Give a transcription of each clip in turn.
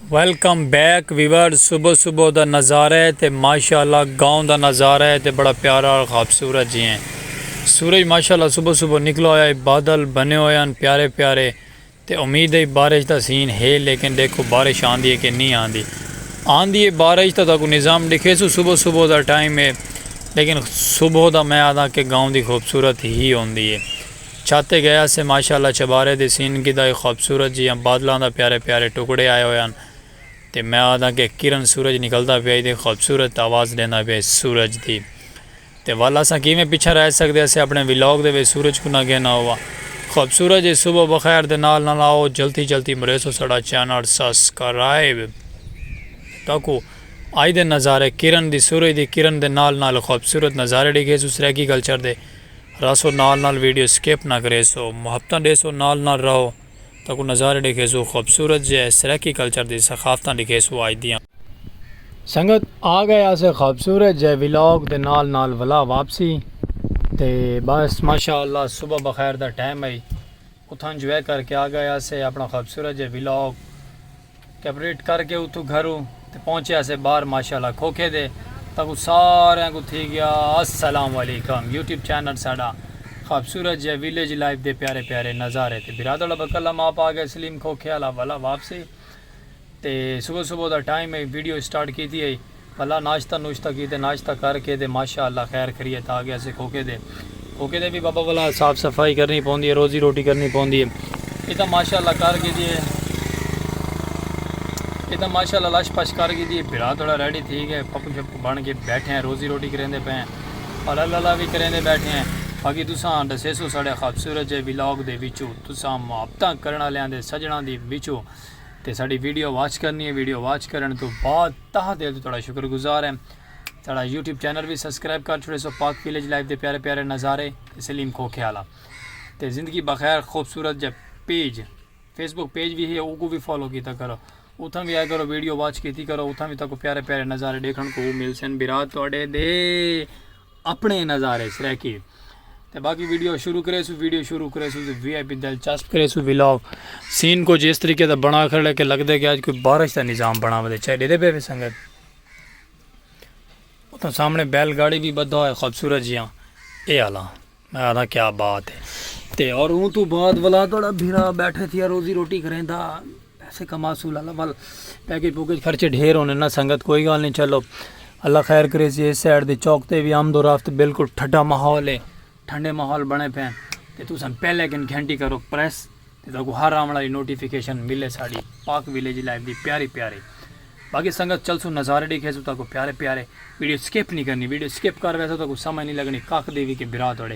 Welcome back viewers صبح صبح دا نظارہ ہے تے ماشاءاللہ گاؤں دا نظارہ ہے تے بڑا پیارا اور خوبصورت جی ہیں سورج ماشاءاللہ صبح صبح نکلا ہویا ہے بادل بنے ہوئے ہیں پیارے پیارے تے امید ہے بارش دا سین ہے لیکن دیکھو بارش آندی ہے کہ نہیں آندی آندی ہے بارش تا تاکو نظام دکھے سو صبح صبح دا ٹائم ہے لیکن صبح دا میں آدھا کہ گاؤں دی خوبصورت ہی ہوندی ہے چھاتے گئے ہاسے ماشاء اللہ چھبارے دی سین گدھا ہی خوبصورت جیاں بادلاں دا پیارے پیارے ٹکڑے آئے ہوئے ہن تے میں آدھاں کہ کرن سورج نکلدا پیا ہی تے خوبصورت آواز ڈیندا پیا ہی سورج دی تے ول اساں کیویں پچھاں رہ سکدے ہاسے اپنے ولاگ دے وچ سورج کوں نہ گھینا ہوا خوبصورت جے صبح بخیر دے نال نال آؤ جلتی جلتی مریسو ساڈا چینل سسکرائب تاکو آئی دے نظارے کرن دی سورج دی کرن دے نال نال خوبصورت نظارے ڈیکھیسو سرائیکی کلچر دے رہسو نال نال ویڈیو سکپ نہ کریسو محبتاں ڈیسو نال نال رہو تاکوں نظارے ڈیکھیسو خوبصورت جے سرائیکی کلچر دی ثقافتاں ڈیکھیسو اج دیاں۔ سنگت آگئے آسے خوبصورت جے ولاگ دے نال نال ولا واپسی تے بس ماشاءاللہ صبح بخیر دا ٹائم ہئی۔ اتھاں انجوائے کر کے آ گئے آسے اپنا خوبصورت جے ولاگ کیپریٹ کر کے اتھوں گھروں تے پہنچے آسے باہر ماشاءاللہ کھوکھے دے تاکو سارے کو تھی گیا السلام علیکم یوٹیوب چینل ساڈا خوبصورت جے ویلیج لائف دے پیارے پیارے نظارے تے برادڑ ابکلم آپ آ گئے سلیم کھوکھے والا والا واپسی تے صبح صبح دا ٹائم ہئی ویڈیو اسٹارٹ کیتی ہئی بھلا ناشتہ نوشتہ کیتے ناشتہ کر کے تے ماشاء اللہ خیر خریت آ گیا سے کھوکے دے کھوکے دے بھی بابا والا صاف صفائی کرنی پوندی ہے روزی روٹی کرنی پوندی ہے یہ تاں ماشاء اللہ کر گئی دی ہے یہ تاں ماشاء اللہ لش پش کر گئی دی ہے بھرا تھوڑا ریڈی تھی گئے پپو شپو بن کے بیٹھے ہیں روزی روٹی کریں دے پہ ہیں اور اللہ اللہ بھی کریں دے بیٹھے ہیں باقی تساں دسے سو ساڑے خوبصورت جے ولاگ دے وچو تساں محبتاں کرنا لیاں دے سجناں دی وچو تے ساڈی ویڈیو واچ کرنی ہے ویڈیو واچ کرن تو بعد تہ دل تو تہاڈا شکر گزار ہیں ساڈا یوٹیوب چینل بھی سبسکرائب کر چھوڑے سو پاک ویلیج لائف دے پیارے پیارے نظارے تے سلیم کھوکھے والا تے زندگی بخیر خوبصورت جے پیج فیس بک پیج بھی ہے او کو بھی فالو کیتا کرو اتھاں بھی آیا کرو ویڈیو واچ کیتی کرو اتھاں بھی تاکو پیارے پیارے نظارے دیکھن کو مل سن برا تہاڈے دے اپنے نظارے سرائیکی تے باقی ویڈیو شروع کرے سو ویڈیو شروع کرے سو وی آئی پی دلچسپ کرے سو ویلاگ سین کو جس طریقے دا بنا کھڑے کہ لگ دے کہ آج کوئی بارش دا نظام بنا ودے چاہے دے دے بے بے سنگت اتنا سامنے بیل گاڑی بھی بدھا ہوئے خوبصورت جیاں اے آلا میں آدھا کیا بات ہے تے اور اون تو بعد والا توڑا بھیرا بیٹھے تھی روزی روٹی کریں دا سکھا ماسول اللہ ول پیکج پوکج خرچے ڈھیر ہونے نا سنگت کوئی گال نہیں چلو اللہ خیر کرے سی اس سائڈ دے چوک تے بھی آمد و رفت بالکل ٹھڈا ماحول ہے ٹھنڈے ماحول بنے پے تے تساں پہلے کن گھنٹی کرو پریس تے تاکو ہر آمن والی نوٹیفیکیشن ملے ساڈی پاک ویلیج لائف دی پیاری پیاری باقی سنگت چلسو نظارے ڈیکھے سو تاکو پیارے پیارے ویڈیو سکپ نہیں کرنی ویڈیو سکپ کر ویسے تاکو سمجھ نہیں لگنی کاک دیوی کے برا توڑے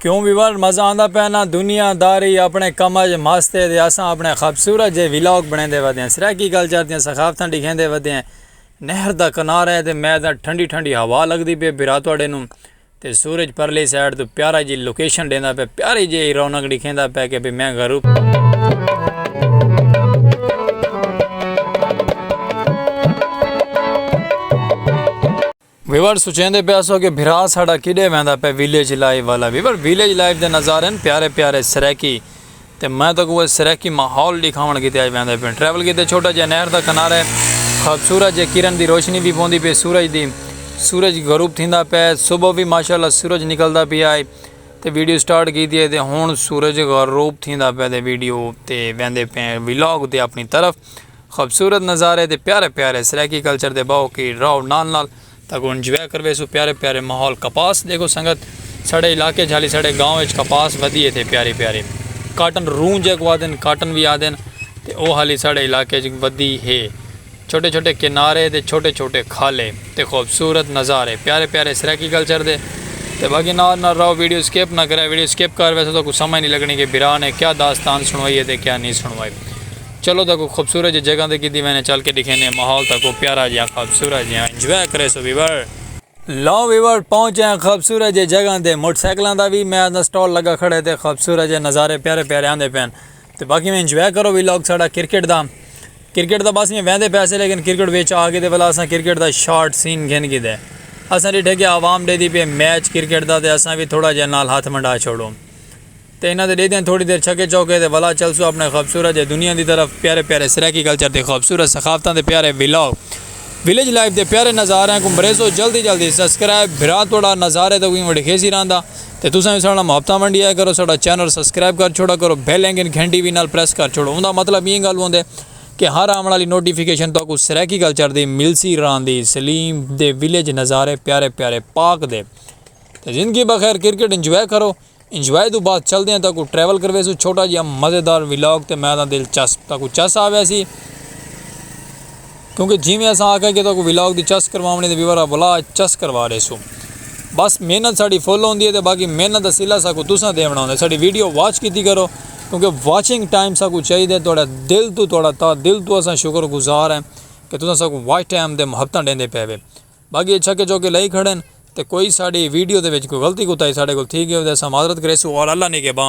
کیوں وی ورلڈ مزہ آندا پیا نا دنیا داری اپنے کم اج مست ہے دے اساں اپنے خوبصورت جے ویلاگ بنے دے ودے ہیں سرائیکی گل چار دیاں ثقافتاں ڈیکھیں دے ودے ہیں نہر دا کنار ہے دے میں دا ٹھنڈی ٹھنڈی ہوا لگ دی پہ براتو اڈے نوں تے سورج پرلی سائیڈ تو پیارا جی لوکیشن ڈینا پہ پیاری جی رونگ ڈیکھیں ایندا پئے کہ بھئی میں گھروں۔ ویور سوچیندے پئے ہسو کہ بھرا ساڈا کیڈے ویندا پئے ویلیج لائف والا ویور ویلیج لائف دے نظارے ہن پیارے پیارے سرائیکی تے میں تاکوں اوہ سرائیکی ماحول ڈکھاون کیتے اج ویندے پئے ٹریول کیتے چھوٹا جیہا نہر دا کنارے خوبصورت جے کرن دی روشنی وی پوندی پئی سورج دی سورج غروب تھیندا پئے صبح وی ماشاءاللہ سورج نکلدا پیا ہے۔ تے ویڈیو سٹارٹ کیتی ہے تے ہن سورج غروب تھیندا پیا تے ویڈیو تے ویندے پئے ہیں ولاگ تے اپنی طرف خوبصورت نظارے تے پیارے پیارے سرائیکی کلچر دے باہو کی راو نال نال تاکو انجوائے کروے سو پیارے پیارے ماحول کپاس دیکھو سنگت سڑے علاقے جھالی سڑے گاؤں اچ کپاس ودی ہے تے پیاری پیاری کاٹن رون جے کو آدن کاٹن وی آدن تے او حالی سڑے علاقے جھالی ودی ہے چھوٹے چھوٹے کنارے تے چھوٹے چھوٹے کھالے تے خوبصورت نظارے پیارے پیارے سرائیکی کلچر دے تے باقی نال نال رہو ویڈیو سکپ نہ کریا ویڈیو سکپ کر ویسو تاکو سمجھ نی لگنی کہ برا نے کیا داستان سنوائی ہے تے کیا نی سنوائی چلو تاکو خوبصورت جے جگہ تے کیتی وینے چل کے ڈکھینے ماحول تاکو پیارا جیاں خوبصورت جیاں انجوائے کریسو ویور۔ لو ویور پہنچے ہیں خوبصورت جے جگہ تے موٹر سائیکلاں دا وی میز دا سٹال لگا کھڑے تے خوبصورت جے نظارے پیارے پیارے آندے پین۔ تے باقی میں انجوائے کرو وی لاگ ساڑا کرکٹ دا کرکٹ دا بس میں ویندے پے سے لیکن کرکٹ وچ آ گئے تے ولا اساں کرکٹ دا شارٹ سین گھن گھدے اساں ڈیٹھے کہ عوام ڈے دی پے میچ کرکٹ دا تے اساں وی تھوڑا جے نال ہتھ منڈا چھوڑو تے انہاں دے ڈے دیاں تھوڑی دیر چھکے چوکے تے ولا چلسو اپنے خوبصورت جے دنیا دی طرف پیارے پیارے سرائیکی کلچر تے خوبصورت ثقافتاں دے پیارے وی لاگ ویلیج لائف دے پیارے نظاریاں کو مریسو جلدی جلدی سبسکرائب بھرا توڑا نظارے تے کوئی وڈی خیزی راندا تے تساں وی ساڈے نال محبتاں ونڈیا کرو ساڈا چینل سبسکرائب کر چھوڑا کرو بیل آئیکن گھنٹی وی نال پریس کر چھوڑو اوندا مطلب ایں گل ہوندے کہ ہر آون آلی نوٹیفیکیشن تہاکوں سرائیکی گل چڑھدی ملسی راہندی سلیم دے ویلیج نظارے پیارے پیارے پاک دے تے زندگی بخیر کرکٹ انجوائے کرو انجوائے توں بعد چلدے ہیں تہاکوں ٹریول کرویسوں چھوٹا جیا مزیدار ولاگ تے میں آدھاں دلچسپ تہاکوں چس آویسی۔ کیونکہ جیویں اساں آکھیا کہ تہاکوں ولاگ دی چس کرواونڑی تے ویور اولا اچ چس کروا ڈیسوں۔ بس محنت ساڈی فل ہوندی ہے تے باقی محنت دا صلہ ساکوں تساں ڈیونڑا ہوندا ہے۔ ساڈی ویڈیو واچ کیتی کرو کیونکہ واچنگ ٹائم ساکوں چاہیدا ہے تہاڈا دل توں تہاڈا تہہ دل توں اساں شکر گزار ہیں کہ تساں ساکوں واچ ٹائم تے محبتاں ڈیندے پئے وے۔ باقی اے چھکے چوکے لائی کھڑے ہیں تے کوئی ساڈی ویڈیو دے وچ کوئی غلطی کوتاہی ساڈے کول تھی گئی ہووے تاں اساں معذرت کریسوں اور اللہ نگہبان۔